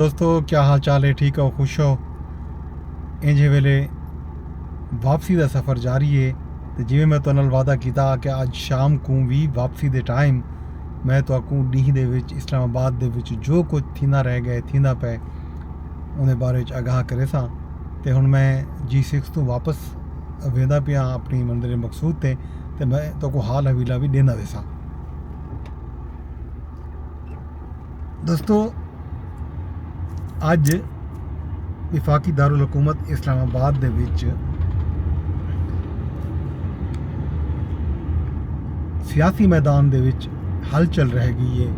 دوستو کیا حال چال ہے ٹھیک ہو خوش ہو انجھے ویلے واپسی دا سفر جاری ہے تے جویں میں تو نال وعدہ کیتا کہ اج شام کوں وی واپسی دے ٹائم میں تو اکوں ڈیہہ دے وچ اسلام آباد دے وچ جو کچھ تھیندا رہ گئے تھیندا پے انہیں بارے وچ آگاہ کرے ساں تے ہن میں جی سکس توں واپس ویندا پیاں اپنی منزل مقصود تے تے میں تو کو حال حویلہ وی ڈیندا ویساں۔ دوستو اج وفاقی دارالحکومت اسلام آباد دے وچ سیاسی میدان دے وچ ہل چل رہ گئی ہے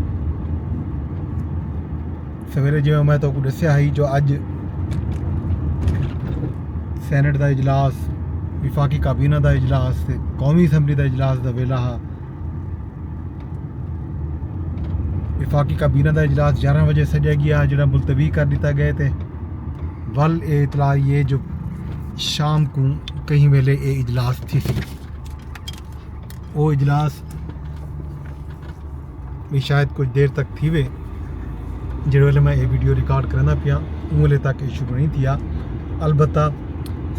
سویرے جی میں تو کو دسیا ہی جو اج سینٹ دا اجلاس وفاقی کابینہ دا اجلاس قومی اسمبلی دا اجلاس دا ویلا ہا وفاقی کابینہ دا اجلاس گیارہ بجے سڈیا گیا جڑا ملتوی کر دیتا گئے تے ول اے اطلاع یہ جو شام کو کہیں ویلے اے اجلاس تھی سی او اجلاس بھی شاید کچھ دیر تک تھی وے جڑے ویلے میں اے ویڈیو ریکارڈ کرنا پیا اوں ویلے تک اے شروع نہیں تھیا البتہ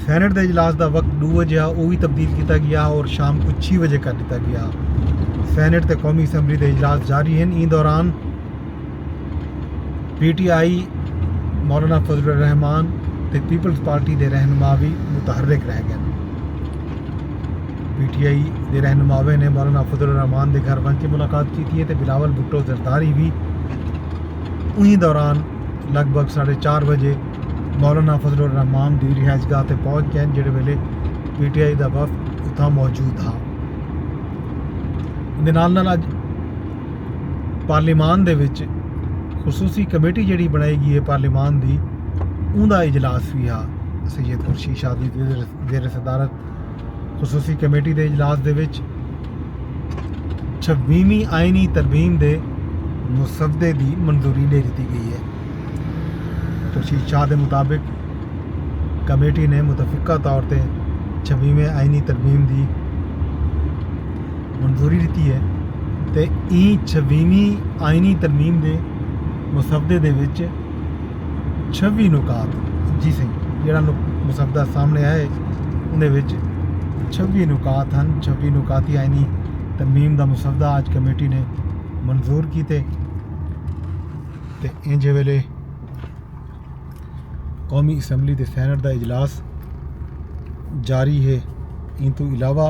سینٹ دے اجلاس دا وقت دو بجے ہا او وی تبدیل کیتا گیا اور شام کو چھ بجے کر دیتا گیا سینٹ تے قومی اسمبلی دے اجلاس جاری ہیں این دوران پی ٹی آئی مولانا فضل الرحمان تے پیپلز پارٹی دے رہنما بھی متحرک رہ گئے پی ٹی آئی دے رہنماویں نے مولانا فضل الرحمان دے گھر ونج کے ملاقات کیتی ہے تے بلاول بھٹو زرداری وی انہی دوران لگ بھگ ساڑھے چار بجے مولانا فضل الرحمان دی رہائش گاہ تے پہنچ گئے جڑے ویلے پی ٹی آئی دا وفد اتھاں موجود ہا دے نال نال اج پارلیمان دے وچ خصوصی کمیٹی جڑی بنائی گئی ہے پارلیمان دی اوندا اجلاس وی ہا سید خورشید شاہ دی زیر صدارت خصوصی کمیٹی دے اجلاس دے وچ چھویویں آئینی ترمیم دے مسودے دی منظوری ڈے دیتی گئی ہے خورشید شاہ دے مطابق کمیٹی نے متفقہ طور تے چھویویں آئینی ترمیم دی منظوری دیتی ہے تے ایں چھویویں آئینی ترمیم دے مسودے دے وچ چھوی نکات جی سائیں جیڑا مسودہ سامنے آئے اندے وچ چھوی نکات ہن چھوی نکات ہی آئینی ترمیم دا مسودہ آج کمیٹی نے منظور کیتے تے انجھے ویلے قومی اسمبلی دے سینٹ دا اجلاس جاری ہے ان تو علاوہ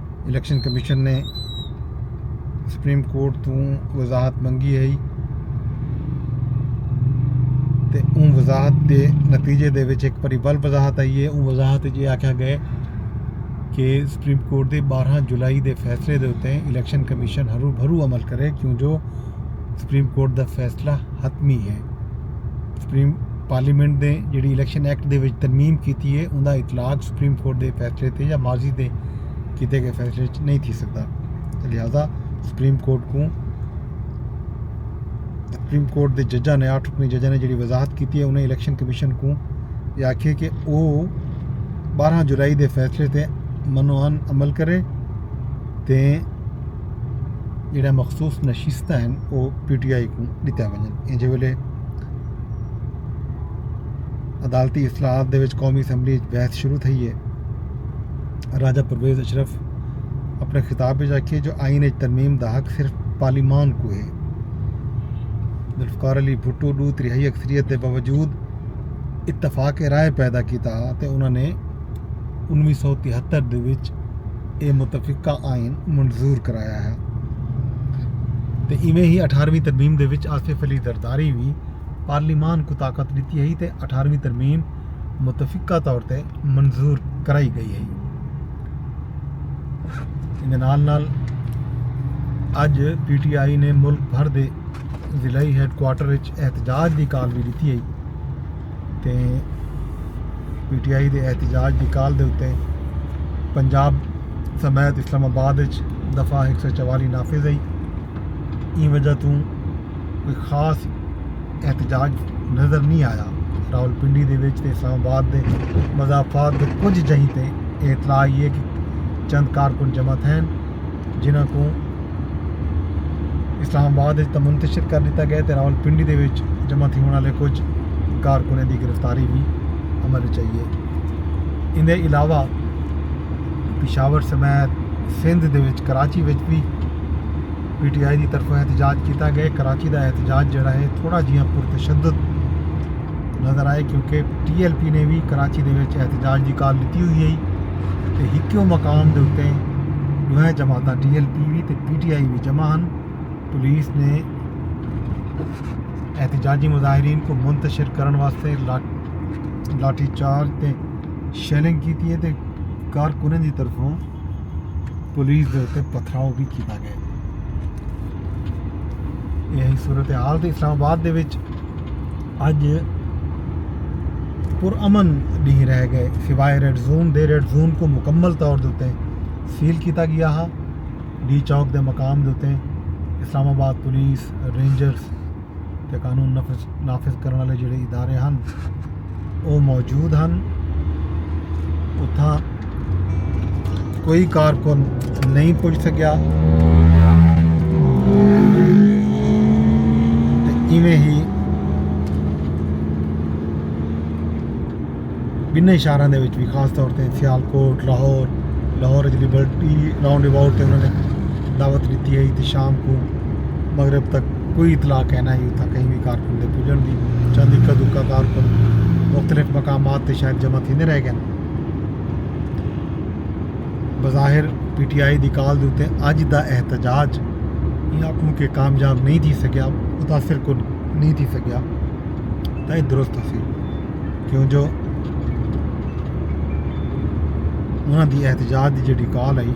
الیکشن کمیشن نے سپریم کورٹ توں وضاحت منگی ہئی تے اون وضاحت دے نتیجے دے وچ ایک پری بل وضاحت آئی ہے اون وضاحت جی آکھا گئے کہ سپریم کورٹ دے بارہ جولائی دے فیصلے دے اتے الیکشن کمیشن ہرو بھرو عمل کرے کیوں جو سپریم کورٹ دا فیصلہ حتمی ہے سپریم پارلیمنٹ دے جیڑی الیکشن ایکٹ دے وچ ترمیم کیتی ہے اوندا اطلاق سپریم کورٹ دے فیصلے تے یا ماضی دے کیتے گئے فیصلے وچ نہیں تھی سکدا لہذا سپریم کورٹ کوں سپریم کورٹ دے ججاں نے آٹھ رکنی ججاں نے جیڑی وضاحت کیتی ہے انہیں الیکشن کمیشن کوں یہ آکھے کہ او بارہ جولائی دے فیصلے تے منوان عمل کرے تے جیڑھیاں مخصوص نشستاں ہن او پی ٹی آئی کوں ݙتیاں ونڄن۔ ایجھے ویلھے عدالتی اصلاحات دے وچ قومی اسمبلی اچ بحث شروع تھئی اے۔ راجہ پرویز اشرف اپݨے خطاب اچ آکھیے جو آئین اچ ترمیم دا حق صرف پارلیمان کوں اے۔ ذوالفقار علی بھٹو ݙو تریہائی اکثریت دے باوجود اتفاق رائے پیدا کیتا ہا تے انہاں نے انوی سو تہتر دے وچ اے متفقہ آئین منظور کرایا ہا۔ تے ایویں ہی اٹھارویں ترمیم دے وچ آصف علی زرداری وی پارلیمان کوں طاقت ڈتی ہئی تے اٹھارویں ترمیم متفقہ طور تے منظور کرائی گئی ہئی۔ ایندے نال نال اج پی ٹی آئی نے ملک بھر دے ضلعی ہیڈ کوارٹر وچ احتجاج دی کال وی ڈتی ہئی۔ تے پی ٹی آئی دے احتجاج دی کال دے اتے پنجاب سمیت اسلام آباد اچ دفعہ ہک سو چوالی نافذ ہئی ایں وجہ توں کوئی خاص احتجاج نظر نہیں آیا راول پنڈی دے وچ تے اسلام آباد دے مضافات دے کچھ جہیں تے اطلاع یہ کہ چند کارکن جمع تھین جنہاں کوں اسلام آباد وچ منتشر کر ݙتا ڳئے تے راول پنڈی دے وچ جمع تھیوݨ والے کچھ کارکنیں دی گرفتاری وی عمل وچ آئی ہے ان دے علاوہ پشاور سمیت سندھ دے وچ کراچی وچ وی پی ٹی آئی دی طرفوں احتجاج کیتا ڳئے کراچی دا احتجاج جیڑھا ہے تھوڑا جیہاں پرتشدد نظر آئے کیونکہ ٹی ایل پی نے بھی کراچی دے وچ احتجاج دی کال لیتی ہوئی ہے تے ہکیوں مقام دے اتے دوہیں جماعتاں ٹی ایل پی بھی تے پی ٹی آئی بھی جمع ہن پولیس نے احتجاجی مظاہرین کو منتشر کرن واسطے لاٹھی چارج تے شیلنگ کیتی ہے تے کارکنیں دی طرفوں پولیس دے اتے پتھراؤ بھی کیتا گئے یہ صورتحال تے اسلام آباد دے وچ اج پر امن ڈینہہ رہ گئے سوائے ریڈ زون دے ریڈ زون کو مکمل طور دوتے سیل کیتا گیا ہا ڈی چوک دے مقام دوتے اسلام آباد پولیس رینجرز تے قانون نافذ کرنے والے جڑے ادارے ہن او موجود ہن اتھاں کوئی کارکن نہیں پج سکیا ایویں ہی بننے شہراں دے وچ بھی خاص طور تے سیال کوٹ لاہور لاہور وچ لبرٹی راؤنڈ اباؤٹ تے انہوں نے دعوت دیتی ہے تے شام کو مغرب تک کوئی اطلاع کینا ہی اتھاں کہیں وی کارکن دے پجنڑ دی، چند اکا دکا کارکن مختلف مقامات تے شاید جمع تھیندے رہ گئن۔ بظاہر پی ٹی آئی دی کال دے اتے اج دا احتجاج ایں آکھوں کہ کامیاب نہیں تھی سگیا، متاثر کن نہیں تھی سگیا تاں ایہ درست ہسی کیوں جو انہاں دی احتجاج دی جیڑھی کال ہئی۔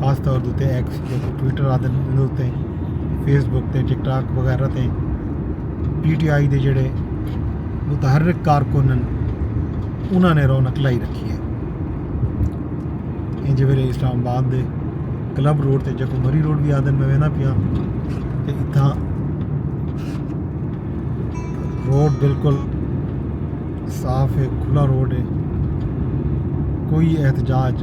خاص طور دے اتے ایکس جیسے ٹویٹر آتے انہوں تے فیس بک تے ٹک ٹاک وغیرہ تے پی ٹی آئی دے جڑے متحرک کارکن انہوں نے رونق لائی رکھی ہے ان جی ویلے اسلام آباد دے کلب روڈ تے جکو مری روڈ بھی آدن میں وینا پیا تے اتھاں روڈ بالکل صاف ہے کھلا روڈ ہے کوئی احتجاج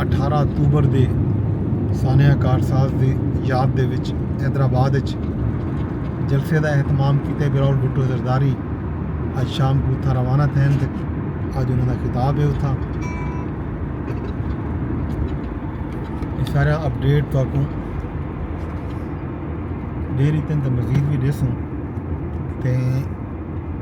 اٹھارہ اکتوبر دی سانحہ کارساز دی یاد دے وچ حیدرآباد اچ جلسے دا اہتمام کیتے براول بھٹو زرداری اج شام کوں اتھاں روانہ تھین تے اج انہاں دا خطاب ہے اتھاں یہ سارا اپڈیٹ تو اکوں دے رہی تین تے مزید بھی دیسوں تے